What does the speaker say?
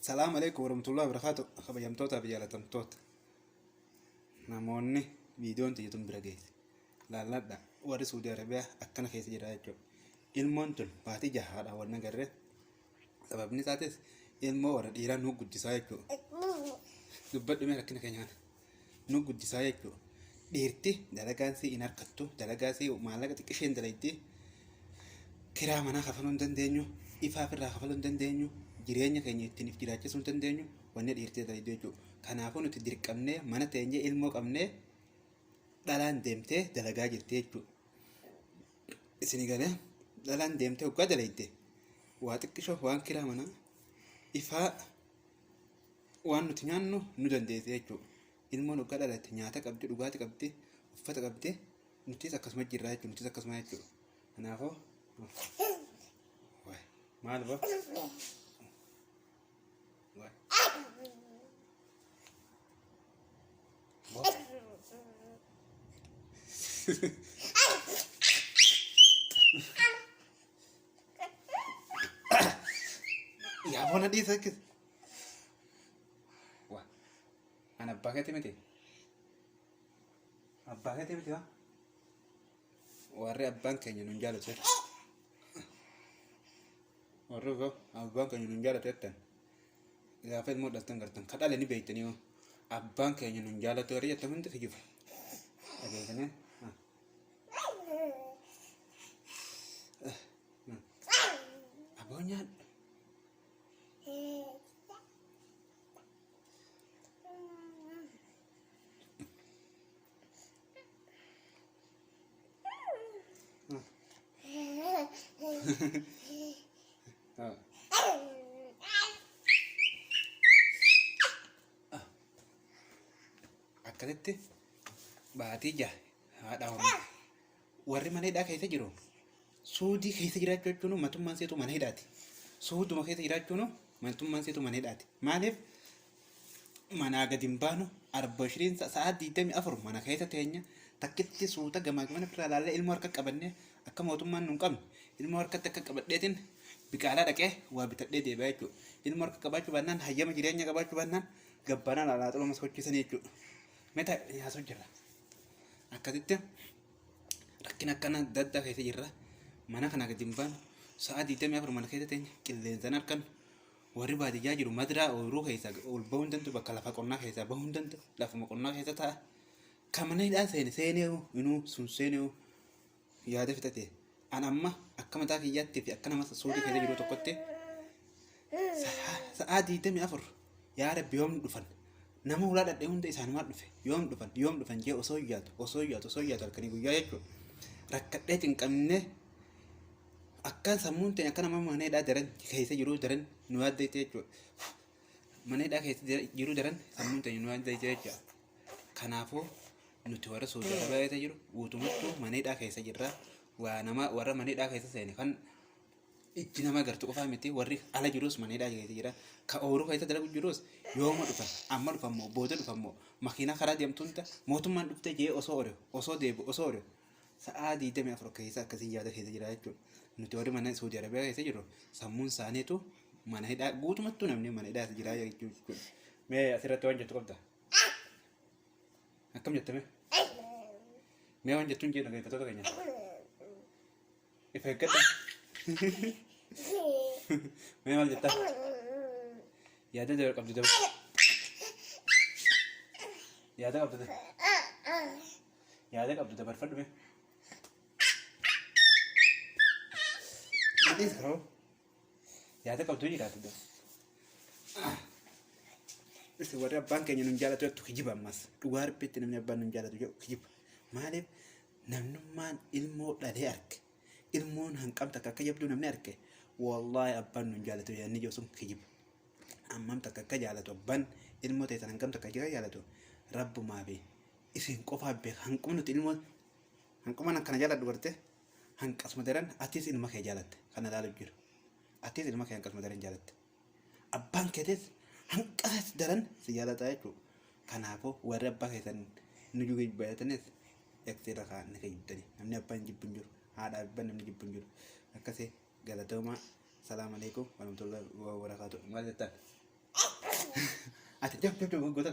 Salaam alaikum warahmatullahi wabarakatuh. Kabajamtootaa fi jaalatamtoota. Namoonni viidiyoon tiyya tun bira geesse. Laalladha. Warri Suudi Arabiyaa akkana keessa jira jechuudha. Ilmoon tun baatii jahaadha wal nagarre. Sababni isaatis ilmoo warra dhiiraa nu guddisaa jechuudha. Dubbadhu mee rakkina keenya kana. Nu guddisaa jechuudha. Dhiirti dalagaan sii hin harkattu, dalagaa sii maallaqa xiqqisheen dalaydi, kiraa manaa kafaluu hin dandeenyu, ifaa firraa kafaluu hin dandeenyu, jireenya keenya ittiin if jiraachisuu hin dandeenyu, wanni dhiirti dalaydu jechuudha. Kanaafuu nuti dirqamnee mana teenyee ilmoo qabnee dhalaan deemtee dalagaa jirti jechuudha. isinii galee dhalaan deemtee hoggaa daleeyde waa xiqqishoof waan kiraa manaa ifaa waan nuti nyaannu nu dandeesse jechuudha. Ilmoon hoggaa dhalatte nyaata qabdi, dhugaatii qabdi, uffata qabdi, nutis akkasuma jirra jechuudha. Nutis akkasuma jechuudha. Kanaafuu maal boo? Yaa bona dhiisa akkis. Waa. An abbaa keetti miti. Abbaa keetti miti waa. warri abbaan keenya nun jaalatu jette warri koo abbaan keenya nun jaalatu jettan gaafa ilmoo dhaltan gartan ka dhala ni beektanii hoo abbaan keenya nun jaalatu warri jettan hundi kijiba dhageessanii aboo nyaadhu akkasitti baatii jaha haadha hormaata. Warri mana hidhaa keessa jiru suudii keessa jiraachuu jechuun matummaan seetu mana hidhaati. Suuduma keessa jiraachuun matummaan seetu mana hidhaati. Maaliif manaa gadi hin baanu arba shiriin sa'aa 24 mana keessa teenya takkitti suuta gamaa gamana irraa laallee ilmoo harka qabannee akka mootummaan nun qabne ilmoo harkatti akka qabadheetiin biqaalaa dhaqee waa bitadhee deebi'aa jechuudha. Ilmoo harka qabaachuu baannaan hayyama jireenya qabaachuu baannaan gabbaanaan alaa xuluma sochiisanii jechuudha. Meta yaa sochirra. akkasitti rakkina akkana adda addaa keessa jirra mana kana gadi hin baanu sa'a digdamii afur mana keessa teenya qilleensaan harkan warri baadiyyaa jiru madiraa ooyiruu keessa ol bahuu hin danda'u bakka lafa qonnaa keessaa bahuu hin danda'u lafuma qonnaa keessa ta'a kan mana hidhaa seene seenee inuu sun seenee yaada fixate an amma akka mataa kiyyaatti fi akka nama suudii keessa jiru tokkotti sa'aa diidamii afur yaa rabbi yoom dhufan nama hulaa dhadhee hunda isaanumaa dhufe yoom dhufan yoom dhufan jee osoo yaadu osoo yaadu osoo yaadu halkanii guyyaa jechuudha rakkadhee cinqamnee akkaan sammuun ta'e akka nama maneedhaa daran keessa jiru daran nu yaaddeetti jechuudha maneedhaa keessa jiru daran sammuun ta'e nu yaaddeetti jechuudha. Kanaafuu nuti warra Saudi Arabia keessa jiru guutumatti mana hidhaa keessa jirra. Waa nama warra mana hidhaa keessa seene kan ijji nama agartu qofaa miti warri ala jirus mana hidhaa keessa jira. Ka ooruu keessa dalagu jirus yooma dhufan amma dhufan moo booda dhufan moo makiinaa karaa deemtu hunda mootummaan dhuftee jee osoo ore osoo deebi osoo ore sa'aa 24 keessa akkasiin yaada keessa jira jechuudha. Nuti warri mana Saudi Arabia keessa jirru sammuun isaaniitu mana hidhaa guutumattuu namni mana hidhaa jira jechuudha. Mee asirratti waan jettu qabda? Akkam jette mee? Mee waan jettuun jee dhaggeeffattoota keenya. Ifa eeggata. Mee maal jettaa? Yaada dabar qabdu dabar. Yaada qabdu dabar. Yaada qabdu dabarfadhu mee. Dhiisa hoo? Yaada qabdu hin jiraatu gas. Isa warri abbaan keenya nun jaalatu jettu kijiba ammas. Dhugaa rabbiitti namni abbaan nun jaalatu jedhu kijiba. Maaliif namnummaan ilmoo dhalee arge. Ilmoon hanqamta akka akka jabduu namni arge. Wallaahi abbaan nun jaalatu yaadni jiru sun kijiba. Ammam takka akka jaalatu abbaan ilmoo teessan hangam takka akka jaalatu rabbumaa fi isin qofaa beeka hanqumni nuti ilmoo hanqumaan akkana jaaladhu bartee. Hanqasuma daran atis ilma kee jaalatte kana ilaaluuf jiru. Atis ilma kee hanqasuma daran jaalatte. Abbaan keetis hanqasas daran si jaalata jechuudha. Kanaafuu warri abbaa keessan nu jugee jibbaatanis eksi irra kaa ni kijibdani. Namni abbaa hin jibbu hin jiru. Haadha abbaa namni jibbu hin jiru. Akkasii galatoomaa. Salaam alaikum warahmatullahi wabarakatuh. Maal jettan? Ati jab jab jab goota.